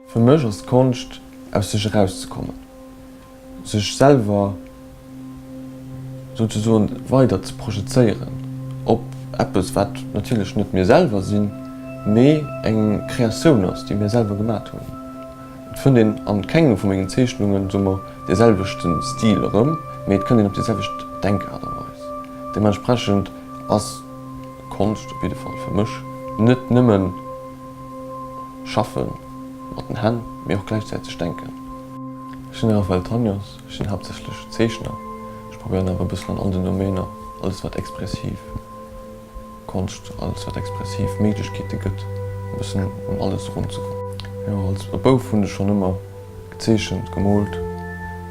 Fir mech ass d'Konscht aus sech eraus ze kommen, sech selwer souzesoen weider ze projezéieren op eppes wat natierlech net mir selwer sinn, mee eng Kreatioun ass déi mir selwer gemat hunn. Et fënnt een an kengem vu mengen Zeechnungen, soe mer, dee selwechten Stil erëm, mee et kënnt een op déi selwecht Denkaart a Weis. Deementsprechend ass Konscht, op jidde Fall fir mech, net nëmmen schaffen mat den Hänn, mee och gläichzäiteg denken. Ech sinn de Raphaël Tanios, ech sinn haaptsächlech Zeechner, ech probéieren awer e bëssen an all den Domainer, alles wat expressiv Konscht, alles wat expressiv Méiglechkeete gëtt, e bëssen ëm alles erunzekommen. Jo, als e Bouf hunn ech schonn ëmmer. Gezeechent, gemoolt.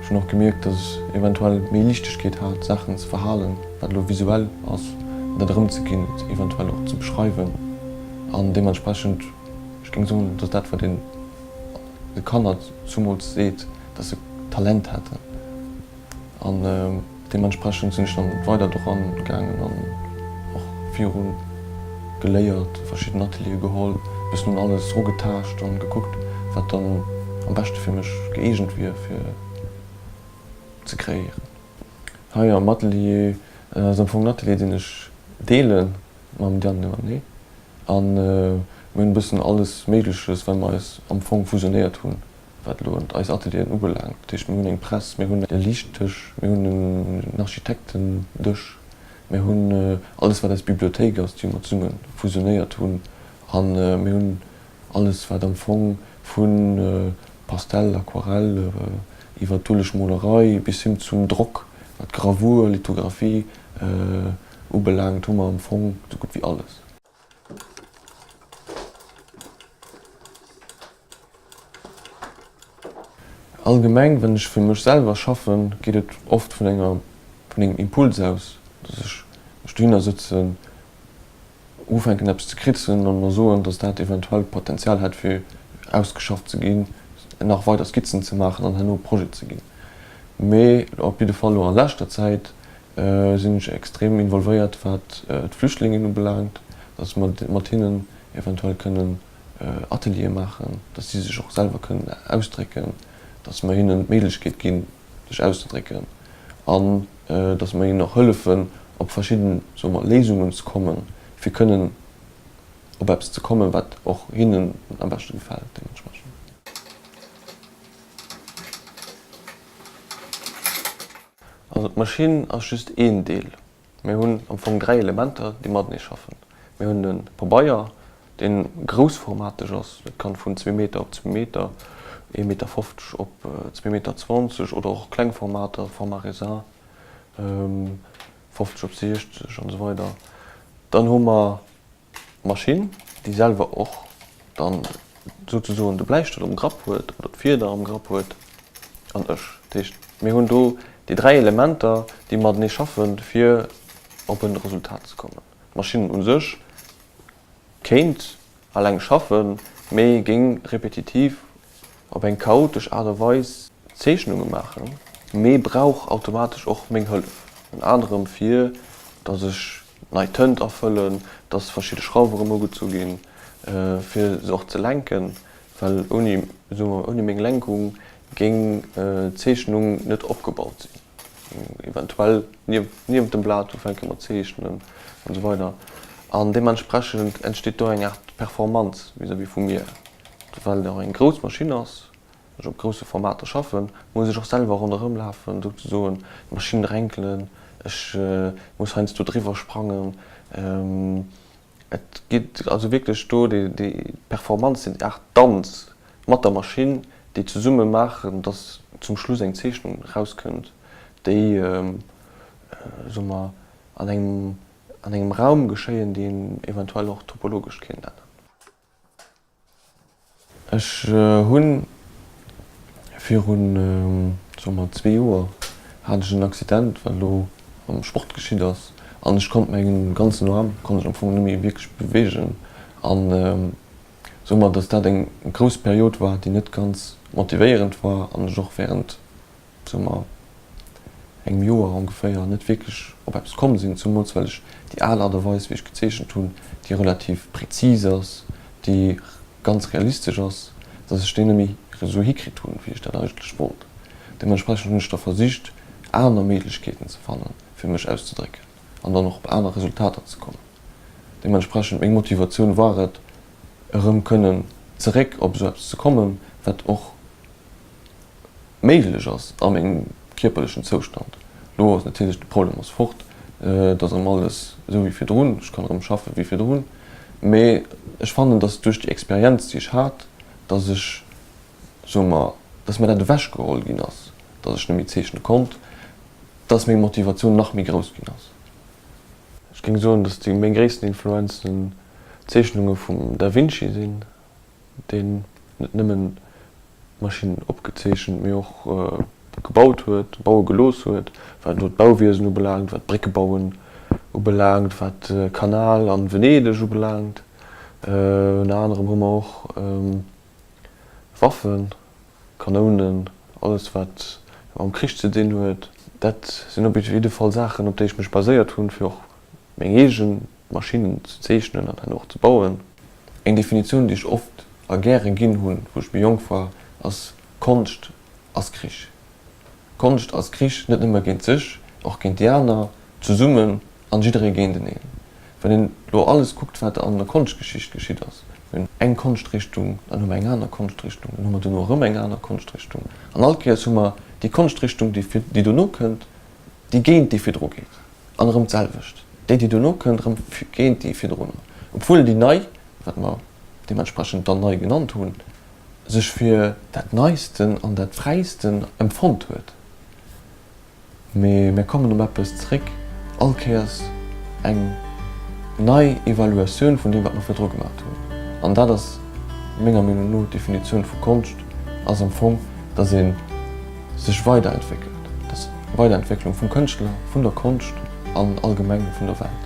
Ech hunn och gemierkt, datt ech eventuell méi Liichtegkeet hat, Saachen ze verhalen, wat elo visuell ass, an dat erëmzeginn, et eventuell och ze beschreiwen. An deementsprechend, ech géing soen, datt dat, wat een de Kanner zumools seet, datt se Talent hätten, An deementsprechend sinn ech dann weider doran gaangen an och virun geléiert, verschidden Atelieren geholl, bis nun alles rugetaascht an gekuckt wat dann am beschte fir mech gëeegent wier fir ze kreéieren. Hei am Atelier, dat ass am Fong en Atelier deen ech deelen mam Diane Lemanné an mir hunn e bëssen alles méigleches well mer eis am Fong fusionéiert hunn. Wat elo eis Atelieren ubelaangt, dat heescht, mir hunn eng Press, mir hunn e Liichtdësch, mir hunn en Architektendësch, mir hunn alles, wat eis Bibliothéik ass, déi mer zesumme fusionéiert hunn, a mir hunn alles, wat am Fong vu Pastell, Aquarell, iwwer d'Ulesch Molerei bis hin zum Drock, wat Gravur, Lithografie ubelaangt, hu mer am Fong esou gutt wéi alles. Allgemeng, wann ech fir mech selwer schaffen, geet et oft vun enger, vun engem Impuls aus, dass ech mech dohinner sëtzen, ufänken eppes ze kritzen an mer soen, dass dat eventuell d'Potenzial hätt fir ausgeschafft ze ginn, nach weider Skizzen ze maachen an herno Projet ze ginn. Mee op jidde Fall elo a leschter Zäit sinn ech extrem involvéiert wat d'Flüchtlingen ubelaangt, datt mer mat hinnen eventuell kënnen Ateliere maachen, datt si sech och selwer kënnen ausdrécken, datt mer hinnen d'Méiglechkeet ginn sech auszedrécken an datt mer hinnen och hëllefen op verschidden, soe mer, Léisungen ze kommen, fir kënnen op eppes ze kommen, wat och hinnen am beschte gefält deementsprechend. Also d'Maschinn ass just een Deel. Mir hunn am Fong dräi Elementer, déi matenee schaffen. Mir hunn de Pabeier, dee groussformateg ass, dat kann vun zwee Meter op zwee Meter, ee Meter fofzeg op zwee Meter zwanzeg oder och kleng Formater, Format Raisin, fofzeg op siechzeg an esou weider. Dann hu mer D'Maschinn, déi selwer och dann souzesoen de Bläistëll um Grapp huet oder d'Fieder am Grapp huet, an ech. Dat heescht, mir hunn do déi dräi Elementer, déi matenee schaffen, fir op e Resultat ze kommen. D'Maschinn u sech kéint eleng schaffen, mee géing repetitiv op eng chaotesch Aart a Weis Zeechnunge maachen, mee brauch automatesch och meng Hëllef, ënner anerem fir datt ech nei Tënt afëllen, dass verschidde Schrauwe rëm ugezu ginn, fir se och ze lenken, well ouni, soe mer, ouni meng Lenkung géing d'Zeechnung net opgebaut sinn, eventuell niewent dem Blat ufänke mat zeechnen an esou weider an deementsprechend entsteet do eng Aart Performanz vis-à-vis vum Mier, well et och eng grouss Maschinn ass, Ech op grousse Formater schaffen, muss ech och selwer ronderëm lafen, souzesoen, d'Maschinn renkelen, ech muss heiansdo driwwer sprangen. Et geet also wierklech do déi Performance, déi Aart Danz mat der Maschinn, déi zesumme maachen, datt zum Schluss eng Zeechnung erauskënnt, déi, soe mer, an engem Raum geschéien, deen eventuell och topologesch kéint änneren. Ech hunn virun soe mer zwee Joer hat ech en Accident wat elo am Sport geschitt ass an ech konnt mengen ganzen Arm konnt ech am Fong net méi wierklech beweegen an soe mer datt dat eng grouss Period war déi net ganz motivéierend war an ech och während Zënter engem Joer ongeféier net wierklech op eppes komm sinn, zemools well ech déi al Art a Weis wéi ech gezeechent hunn, déi relativ präzis ass, déi ganz realistesch ass, dass ech déi net méi esou hikritt hunn, wéi ech dat eigentlech wollt. Deementsprechend hunn ech da versicht aner Méiglechkeeten ze fannen, fir mech auszedrécken an dann och op aner Resultater ze kommen. Deementsprechend meng Motivatioun war et, erëm kënnen zeréck op esou eppes ze kommen, wat och méiglech ass a mengem kierperlechen Zoustand. Lo ass natierlech de Problem ass fort, et ass erëm alles esou wéi virdrun, ech kann erëm schaffen wéi virdrun, mee ech fannen, dass duerch déi Experienz déi ech hat, dass ech, soe mer, dass mer dat ewech geholl ginn ass, dass ech net méi zeechne konnt, dass meng Motivatioun nach méi grouss ginn ass. Ech géing soen, dass déi meng gréissten Influenzen d'Zeechnunge vum Da Vinci sinn, deen net nëmmen Maschinnen opgezeechent, mee och gebaut huet, baue gelooss huet, wat elo d'Bauwiesen ubelaangt, wat d'Bréckebauen ubelaangt, wat de Kanal a Venedeg ubelaangt. Ënner anerem hu mer och Waffen, Kanounen, alles wat mam Krich ze dinn huet. Dat sinn op jidde Fall Saachen, op déi ech mech baséiert hunn, fir och meng eege Maschinnen ze zeechnen an dann och ze bauen. Eng Definitioun, déi ech oft a gäre ginn hunn, wou ech méi jonk war, ass, Konscht ass Krich. Konscht ass Krich net nëmme géint sech, och géint déi aner, zesummen an jidderee géinteneen. Wann een elo alles kuckt, wat an der Konschtgeschicht geschitt ass, mir hunn eng Konschtrichtung, dann hu mer eng aner Konschtrichtung, dann hu mer dono erëm eng aner Konschtrichtung an all Kéiers hu mer déi Konschtrichtung, déi dono kënnt, déi géint déi virdru geet. An erëm d'selwecht, déi déi dono kënnt erëm géint déi virdrunner, obwuel déi nei, wat mer deementsprechend dann nei genannt hunn, sech fir dat neisten an dat fräisten empfonnt huet. Mee mär kommen op eppes zréck, all Kéiers eng nei Evaluatioun vun deem wat mer virdru gemacht hunn. An dat ass menger Meenung no d'Definitioun vu Konscht, ass am Fong, datt een, sech weiderentwéckelt, dass d'Weiderentwécklung vum Kënschtler, vun der Konscht an allgemeng vun der Welt.